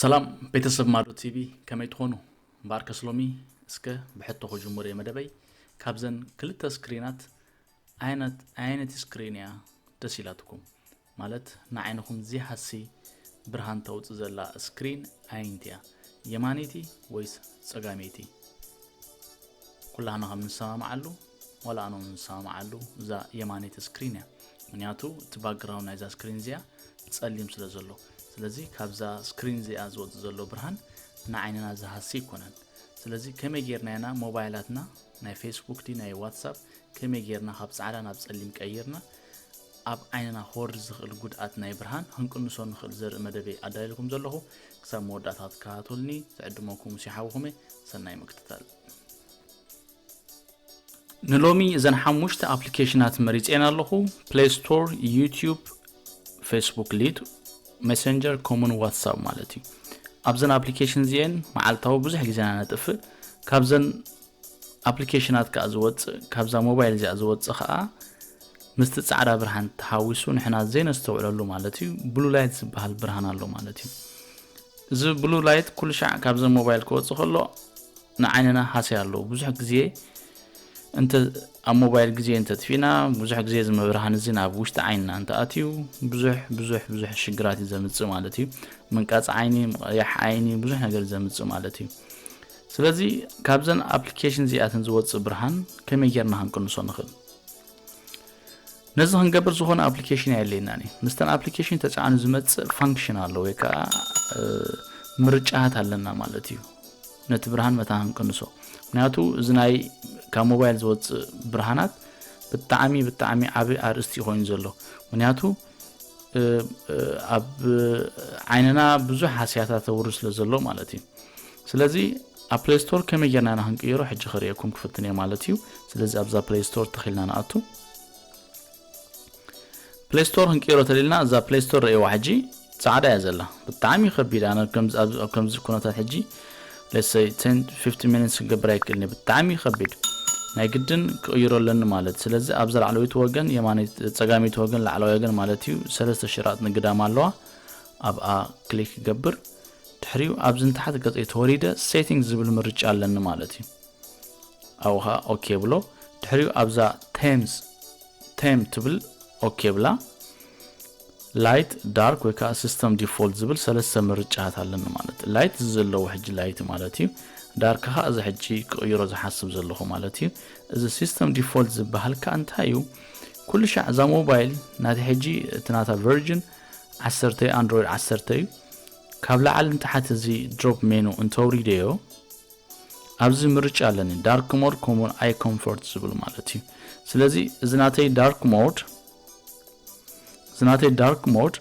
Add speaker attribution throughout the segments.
Speaker 1: ሰላም ቤተሰብ ማዶ ቲቪ ከመይ ትኾኑ እምበኣርከስ ሎሚ እስከ ብሕቶ ክጅምር እየ መደበይ ካብዘን ክልተ ስክሪናት ኣየነት ኣየነቲ ስክሪን እያ ደስ ኢላትኩም ማለት ንዓይንኹም ዚሃሲ ብርሃን ተውፅ ዘላ ስክሪን ኣየንቲ እያ የማነይቲ ወይስ ፀጋመይቲ ኩላህና ከም ንሰማምዓሉ ዋላ ኣነ ውን ዝሰማማዓሉ እዛ የማነይቲ ስክሪን እያ ምክንያቱ እቲ ባክግራውንድ ናይዛ ስክሪን እዚኣ ጸሊም ስለ ዘሎ ስለዚ ካብዛ ስክሪን እዚኣ ዝወጽእ ዘሎ ብርሃን ንዓይንና ዝሃሲ ኣይኮነን ስለዚ ከመይ ጌርና ኢና ሞባይላትና ናይ ፌስቡክ ዲ ናይ ዋትሳፕ ከመይ ጌርና ካብ ጻዕዳ ናብ ጸሊም ቀይርና ኣብ ዓይንና ክወርድ ዝኽእል ጉድኣት ናይ ብርሃን ክንቅንሶ ንኽእል ዘርኢ መደበይ ኣዳልኩም ዘለኹ ክሳብ መወዳእታ ትከታተሉኒ ዝዕድመኩም ሲሓውኹም ሰናይ ምክትታል ንሎሚ እዘን ሓሙሽተ ኣፕሊኬሽናት መሪፀን ኣለኹ ፕሌይ ስቶር ዩቲዩብ ፌስቡክ ሊድ ሜሴንጀር ኮሙን ዋትሳፕ ማለት እዩ ኣብዘን ኣፕሊኬሽን እዚአን መዓልታዊ ብዙሕ ግዜና ነጥፍእ ካብዘን ኣፕሊኬሽናት ከዓ ዝወፅእ ካብዛ ሞባይል እዚኣ ዝወፅእ ከዓ ምስቲ ፃዕዳ ብርሃን ተሓዊሱ ንሕና ዘይነስተውዕለሉ ማለት እዩ ብሉ ላይት ዝበሃል ብርሃን ኣሎ ማለት እዩ እዚ ብሉ ላይት ኩሉ ሻዕ ካብዘን ሞባይል ክወፅእ ከሎ ንዓይንና ሃሰያ ኣለዎ ብዙሕ ግዜ እንተ ኣብ ሞባይል ግዜ እንተ ኣጥፊእና ብዙሕ ግዜ እዚ መብርሃን እዚ ናብ ውሽጢ ዓይንና እንተ ኣትዩ ብዙሕ ብዙሕ ብዙሕ ሽግራት እዩ ዘምጽእ ማለት እዩ ምንቃጽ ዓይኒ ምቕያሕ ዓይኒ ብዙሕ ነገር እዩ ዘምጽእ ማለት እዩ ስለዚ ካብዘን ኣፕሊኬሽን እዚኣተን ዝወፅእ ብርሃን ከመይ ጌርና ክንቅንሶ ንኽእል ነዚ ክንገብር ዝኾነ ኣፕሊኬሽን ኣየድልየናን እዩ። ምስተን ኣፕሊኬሽን ተጻዕኑ ዝመጽእ ፋንክሽን ኣሎ ወይ ከኣ ምርጫታት ኣለና ማለት እዩ። ነቲ ብርሃን መታ ክንቅንሶ ምክንያቱ እዚ ናይ ካብ ሞባይል ዝወጽእ ብርሃናት ብጣዕሚ ብጣዕሚ ዓቢ ኣርእስቲ ኮይኑ ዘሎ ምክንያቱ ኣብ ዓይንና ብዙሕ ሃስያታት ተውሪ ስለ ዘሎ ማለት እዩ ስለዚ ኣብ ፕሌይ ስቶር ከመይ ጌርና ኢና ክንቅይሮ ሕጂ ክርእየኩም ክፍትን እየ ማለት እዩ ስለዚ ኣብዛ ፕሌይ ስቶር ተኺልና ንኣቱ ፕለይ ስቶር ክንቅይሮ ተሊልና እዛ ፕለይ ስቶር ረእዋ ሕጂ ጻዕዳ እያ ዘላ ብጣዕሚ ከቢድ ኣነ ከምዚ ኩነታት ሕጂ ለሰይ 50 ሚኒትስ ክገብር ኣይክእልኒ ብጣዕሚ ከቢድ ናይ ግድን ክቕይሮ ኣለኒ ማለት ስለዚ ኣብዛ ላዕለወይቲ ወገን ፀጋመይቲ ወገን ላዕለዋይ ወገን ማለት እዩ ሰለስተ ሽራጥ ንግዳም ኣለዋ ኣብኣ ክሊክ ክገብር ድሕሪኡ ኣብዚ ንታሕቲ ገፀይ ተወሪደ ሴቲንግ ዝብል ምርጫ ኣለኒ ማለት እዩ ኣብኡ ከኣ ኦኬ የብሎ ድሕሪኡ ኣብዛ ቴምስ ቴም ትብል ኦኬ የብላ ላይት ዳርክ ወይ ከዓ ሲስተም ዲፎልት ዝብል ሰለስተ ምርጫታት ኣለኒ ማለት እዩ ላይት እዚ ዘለዎ ሕጂ ላይት ማለት እዩ ዳርክ ከዓ እዚ ሕጂ ክቕይሮ ዝሓስብ ዘለኹ ማለት እዩ እዚ ሲስተም ዲፎልት ዝበሃል ከዓ እንታይ እዩ ኩሉ ሻዕ እዛ ሞባይል ናቲ ሕጂ እቲ ናታ ቨርጅን ዓሰርተ ኣንድሮይድ ዓሰርተ እዩ ካብ ላዕሊ ንታሕቲ እዚ ድሮፕ ሜኑ እንተውሪደዮ ኣብዚ ምርጫ ኣለኒ ዳርክ ሞድ ከምኡውን ኣይ ኮምፎርት ዝብል ማለት እዩ ስለዚ እዚ ናተይ ዳርክ ሞድ እዚ ናተይ ዳርክ ሞድ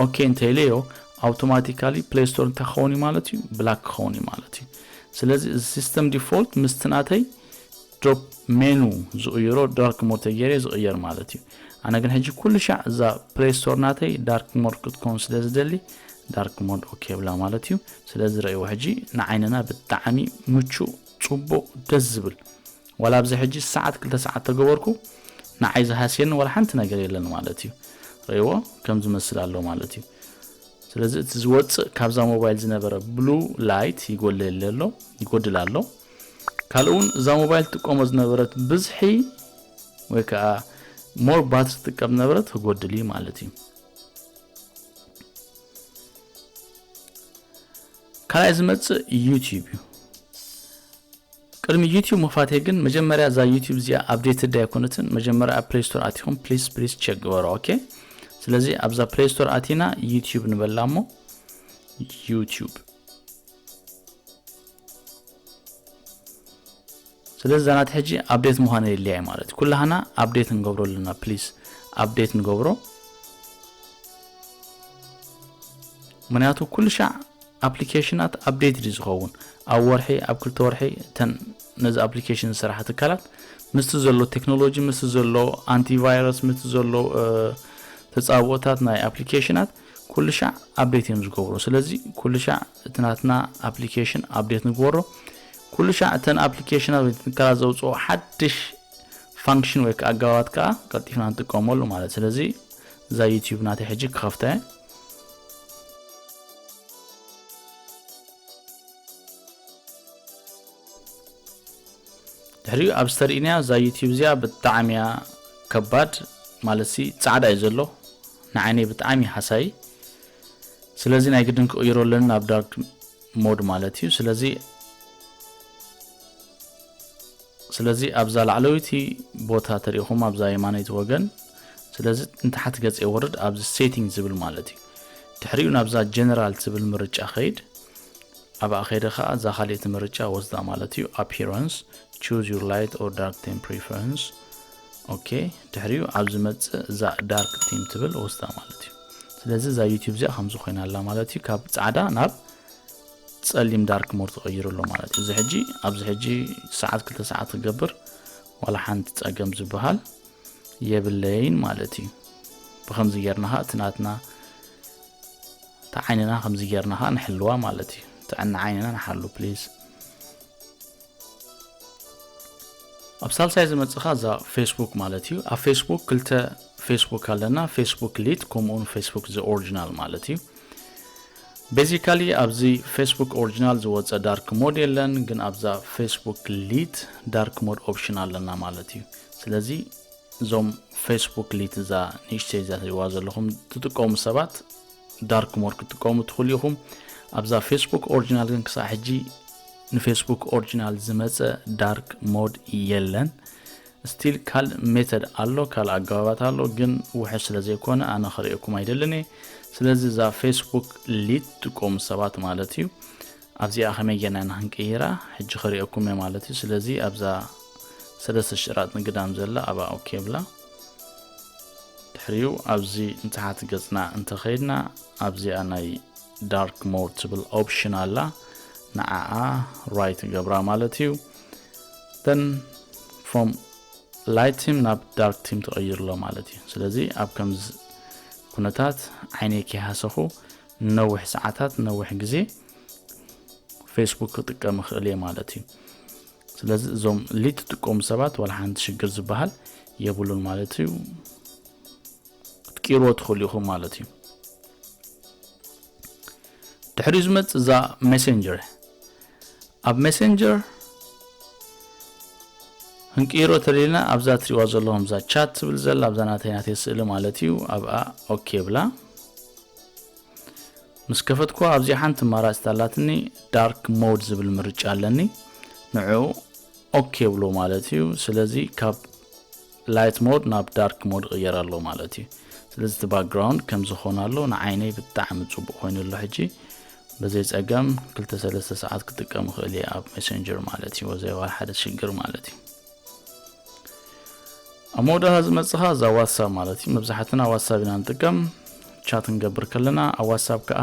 Speaker 1: ኦኬ እንተይለዮ ኣውቶማቲካሊ ፕሌይ ስቶር እንታይ ክኸውን እዩ ማለት እዩ ብላክ ክኸውን እዩ ማለት እዩ ስለዚ እዚ ሲስተም ዲፎልት ምስቲ ናተይ ዶብ ሜኑ ዝቕይሮ ዳርክ ሞድ ተጌሬ ዝቕየር ማለት እዩ ኣነ ግን ሕጂ ኩሉ ሻዕ እዛ ፕሌይ ስቶር ናተይ ዳርክ ሞድ ክትከውን ስለ ዝደሊ ዳርክ ሞድ ኦኬ ብላ ማለት እዩ ስለዚ ረእይዎ ሕጂ ንዓይንና ብጣዕሚ ምቹእ ጽቡቕ ደስ ዝብል ዋላ ኣብዚ ሕጂ ሰዓት ክልተ ሰዓት ተገበርኩ ንዓይ ዝሃስየኒ ዋላ ሓንቲ ነገር የለን ማለት እዩ ረእይዎ ከም ዝመስል ኣሎ ማለት እዩ ስለዚ እቲ ዝወፅእ ካብዛ ሞባይል ዝነበረ ብሉ ላይት ይጎልል ኣሎ ይጎድል ኣሎ ካልእ ውን እዛ ሞባይል ትጥቀሞ ዝነበረት ብዝሒ ወይ ከዓ ሞር ባትሪ ትጥቀም ዝነበረት ክጎድል እዩ ማለት እዩ ካልኣይ ዝመፅእ ዩቲዩብ እዩ ቅድሚ ዩቲዩብ ምኽፋተይ ግን መጀመርያ እዛ ዩቲዩብ እዚኣ ኣብዴት ዳ ኣይኮነትን መጀመርያ ኣብ ፕሌይ ስቶር ኣቲኹም ፕሊስ ፕሊስ ቸክ ግበሮ ኦኬ ስለዚ ኣብዛ ፕሌይ ስቶር ኣቲና ዩቲዩብ ንበላ እሞ ዩቲዩብ ስለዚ እዛ ናተይ ሕጂ ኣብዴት ምዃን የድልያ እዩ ማለት እዩ ኩላህና ኣብዴት ንገብሮ ኣለና ፕሊስ ኣብዴት ንገብሮ ምክንያቱ ኩሉ ሻዕ ኣፕሊኬሽናት ኣብዴት ድዩ ዝኸውን ኣብ ወርሒ ኣብ ክልተ ወርሒ እተን ነዚ ኣፕሊኬሽን ዝስራሓ ትካላት ምስቲ ዘሎ ቴክኖሎጂ ምስቲ ዘሎ ኣንቲቫይረስ ምስቲ ዘሎ ተፃብኦታት ናይ ኣፕሊኬሽናት ኩሉ ሻዕ ኣብዴት እዮም ዝገብሩ ስለዚ ኩሉ ሻዕ እቲ ናትና ኣፕሊኬሽን ኣፕዴት ንግበሮ። ኩሉ ሻዕ እተን ኣፕሊኬሽናት ወይ ትካላት ዘውጽኦ ሓድሽ ፋንክሽን ወይ ከዓ ኣገባባት ከዓ ቀልጢፍና ንጥቀመሉ ማለት ስለዚ እዛ ዩቲዩብ ናተይ ሕጂ ክኸፍታ እየ። ድሕሪኡ ኣብ ዝተርእናያ እዛ ዩቲዩብ እዚኣ ብጣዕሚ እያ ከባድ ማለት ሲ ፃዕዳ እዩ ዘሎ ንዓይነይ ብጣዕሚ ሃሳይ ስለዚ ናይ ግድን ክቕይሮ ኣለኒ ናብ ዳርክ ሞድ ማለት እዩ ስለዚ ስለዚ ኣብዛ ላዕለወይቲ ቦታ ተሪኢኹም ኣብዛ የማነይቲ ወገን ስለዚ ንታሕቲ ገጽ የወርድ ኣብዚ ሴቲንግ ዝብል ማለት እዩ ድሕሪኡ ናብዛ ጀነራል ትብል ምርጫ ከይድ ኣብኣ ከይደ ከዓ እዛ ካልእቲ ምርጫ ወስዳ ማለት እዩ ኣፒራንስ ቹዝ ዩር ላይት ኦር ዳርክ ቴም ፕሪፈረንስ ኦኬ ድሕሪኡ ኣብ ዝመጽእ እዛ ዳርክ ቲም ትብል ወስዳ ማለት እዩ ስለዚ እዛ ዩቲብ እዚኣ ከምዚ ኮይና ኣላ ማለት እዩ ካብ ፃዕዳ ናብ ጸሊም ዳርክ ሞር ተቐይሩ ኣሎ ማለት እዩ እዚ ሕጂ ኣብዚ ሕጂ ሰዓት ክልተ ሰዓት ክገብር ዋላ ሓንቲ ጸገም ዝበሃል የብለይን ማለት እዩ ብከምዚ ጌርና ኸ እቲ ናትና እቲ ዓይንና ከምዚ ጌርና ኸ ንሕልዋ ማለት እዩ ጥዕና ዓይንና ንሓሉ ፕሊዝ ኣብ ሳልሳይ ዝመጽእ ከኣ እዛ ፌስቡክ ማለት እዩ። ኣብ ፌስቡክ ክልተ ፌስቡክ ኣለና፣ ፌስቡክ ሊት ከምኡውን ፌስቡክ ዘ ኦሪጂናል ማለት እዩ። ቤዚካሊ ኣብዚ ፌስቡክ ኦሪጂናል ዝወጸ ዳርክ ሞድ የለን፣ ግን ኣብዛ ፌስቡክ ሊት ዳርክ ሞድ ኦፕሽን ኣለና ማለት እዩ። ስለዚ እዞም ፌስቡክ ሊት እዛ ንእሽተይ እዛ ትሪእዋ ዘለኹም ትጥቀሙ ሰባት ዳርክ ሞድ ክትጥቀሙ ትኽእሉ ኢኹም ኣብዛ ፌስቡክ ኦሪጂናል ግን ክሳዕ ሕጂ ንፌስቡክ ኦሪጂናል ዝመፀ ዳርክ ሞድ የለን ስቲል ካልእ ሜተድ ኣሎ ካልእ ኣገባባት ኣሎ ግን ውሕስ ስለ ዘይኮነ ኣነ ክርእየኩም ኣይደልን እየ ስለዚ እዛ ፌስቡክ ሊት ትቆሙ ሰባት ማለት እዩ ኣብዚኣ ከመይ ጌርና ኢና ክንቅይራ ሕጂ ክሪኦኩም እየ ማለት እዩ ስለዚ ኣብዛ ሰለስተ ሽራጥ ንግዳም ዘላ ኣብኣ ኦኬ ብላ ድሕሪኡ ኣብዚ ንታሕቲ ገጽና እንተኸይድና ኣብዚኣ ናይ ዳርክ ሞድ ትብል ኦፕሽን ኣላ ንዓኣ ራይት ገብራ ማለት እዩ ን ፍሮም ላይት ቲም ናብ ዳርክ ቲም ተቐይርሎ ማለት እዩ ስለዚ ኣብ ከምዚ ኩነታት ዓይነይ ከይሃሰኹ ንነዊሕ ሰዓታት ንነዊሕ ግዜ ፌስቡክ ክጥቀም ይኽእል እየ ማለት እዩ ስለዚ እዞም ሊድ ትጥቀሙ ሰባት ዋላ ሓንቲ ሽግር ዝበሃል የብሉን ማለት እዩ ክትቅይርዎ ትኽእሉ ኢኹም ማለት እዩ ድሕሪ ዝመፅእ እዛ ሜሴንጀር ኣብ ሜሴንጀር ክንቅይሮ ተለልና ኣብዛ ትሪእዋ ዘለኹም እዛ ቻት ትብል ዘላ ኣብዛ ናተይ ናተይ ስእሊ ማለት እዩ ኣብኣ ኦኬ ብላ ምስ ከፈትኩዋ ኣብዚኣ ሓንቲ ኣማራጺት ኣላትኒ ዳርክ ሞድ ዝብል ምርጫ ኣለኒ ንዕኡ ኦኬ ብሎ ማለት እዩ ስለዚ ካብ ላይት ሞድ ናብ ዳርክ ሞድ ቅየር ኣሎ ማለት እዩ ስለዚ እቲ ባክግራውንድ ከም ዝኾነ ኣሎ ንዓይነይ ብጣዕሚ ፅቡቅ ኮይኑ ኣሎ ሕጂ በዘይ ፀገም ክልተ ሰለስተ ሰዓት ክጥቀም ይኽእል እየ ኣብ ሜሴንጀር ማለት እዩ ወዘይ ዋላ ሓደ ሽግር ማለት እዩ ኣብ መወዳእታ ዝመጽኻ እዛ ዋትሳብ ማለት እዩ መብዛሕትና ዋትሳብ ኢና ንጥቀም ቻት ንገብር ከለና ኣብ ዋትሳብ ከዓ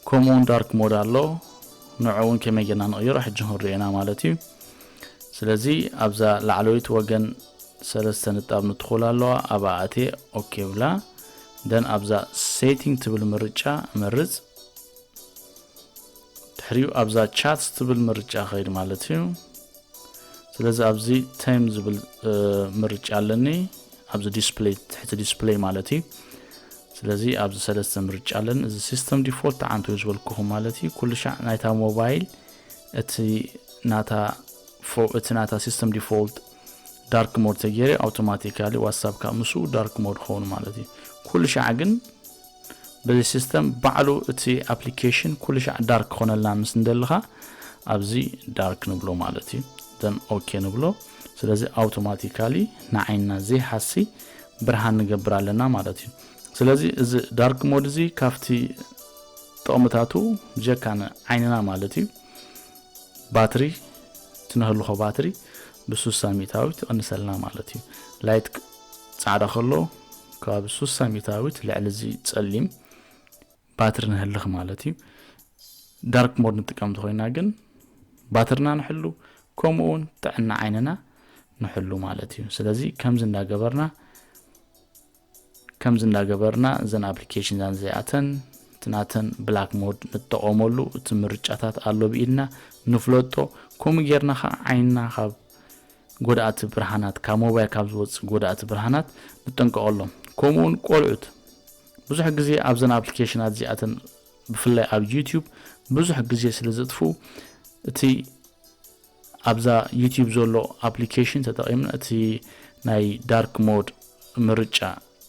Speaker 1: ከምኡውን ዳርክ ሞድ ኣሎ ንዑ እውን ከመይ ጌርና ንቕይሮ ሕጂ ክንሪኦ ኢና ማለት እዩ ስለዚ ኣብዛ ላዕለወይቲ ወገን ሰለስተ ንጣብ ንትኹል ኣለዋ ኣብ ኣእቴ ኦኬ ብላ ደን ኣብዛ ሴቲንግ ትብል ምርጫ መርፅ ድሕሪኡ ኣብዛ ቻትስ ትብል ምርጫ ኸይድ ማለት እዩ ስለዚ ኣብዚ ተም ዝብል ምርጫ ኣለኒ ኣብዚ ዲስፕሌይ ትሕቲ ዲስፕሌይ ማለት እዩ ስለዚ ኣብዚ ሰለስተ ምርጫ ኣለኒ እዚ ሲስተም ዲፎልት ተዓንቶ እዩ ዝበልኩኹም ማለት እዩ ኩሉ ሻዕ ናይታ ሞባይል እቲ ናታ እቲ ናታ ሲስተም ዲፎልት ዳርክ ሞድ ተገይረ ኣውቶማቲካሊ ዋትሳፕ ካብ ምስ ዳርክ ሞድ ክኸውን ማለት እዩ ኩሉ ሻዕ ግን በዚ system ባዕሉ እቲ application ኩሉሻዕ dark ክኾነልና ምስ እንደልኻ ኣብዚ dark ንብሎ ማለት እዩ then ok ንብሎ ስለዚ automatically ንዓይንና ዘይሃሲ ብርሃን ንገብር ኣለና ማለት እዩ ስለዚ እዚ dark mode እዚ ካብቲ ጥቕምታቱ ብጀካ ንዓይንና ማለት እዩ ባትሪ ትነህልኾ ባትሪ ብሱሳ ሚእታዊት ይቕንሰልና ማለት እዩ ላይት ጻዕዳ ከሎ ከባቢ ሱሳ ሚታዊት ልዕሊ እዚ ጸሊም ባትሪ ንህልኽ ማለት እዩ ዳርክ ሞድ ንጥቀም ተኾይና ግን ባትርና ንሕሉ ከምኡ እውን ጥዕና ዓይንና ንሕሉ ማለት እዩ ስለዚ ከምዚ እንዳገበርና ከምዚ እንዳገበርና እዘን ኣፕሊኬሽን ዛን እዚኣተን እቲ ናተን ብላክ ሞድ ንጠቐመሉ እቲ ምርጫታት ኣሎ ብኢድና ንፍለጦ ከምኡ ጌርና ከዓ ዓይንና ካብ ጎዳእቲ ብርሃናት፣ ካብ ሞባይል ካብ ዝወጽእ ጎዳእቲ ብርሃናት ንጠንቀቐሎም። ከምኡውን ቆልዑት ብዙሕ ግዜ ኣብዘን ኣፕሊኬሽናት እዚኣተን ብፍላይ ኣብ ዩትዩብ ብዙሕ ግዜ ስለ ዘጥፍኡ እቲ ኣብዛ ዩትዩብ ዘሎ ኣፕሊኬሽን ተጠቒምና እቲ ናይ ዳርክ ሞድ ምርጫ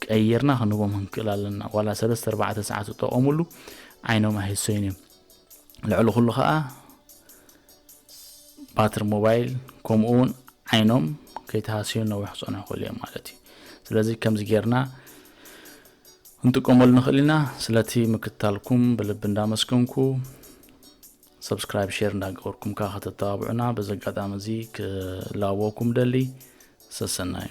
Speaker 1: ቀይርና ክንህቦም ክንክእል ኣለና። ዋላ ሰለስተ ኣርባዕተ ሰዓት ዝጠቐሙሉ ዓይኖም ኣይህሰዩን እዮም። ልዕሊ ኩሉ ከኣ ባትሪ ሞባይል ከምኡ እውን ዓይኖም ከይተሃስዩ ነዊሕ ክፀንሑ ይኽእሉ እዮም ማለት እዩ ስለዚ ከምዚ ጌርና እንጥቀመሉ ንኽእል ኢና ስለቲ ምክትታልኩም ብልቢ እንዳመስገንኩ ሰብስክራይብ ሼር እንዳገበርኩም ከዓ ከተተባብዑና በዚ ኣጋጣሚ እዚ ክላወኩም ደሊ ሰሰናዩ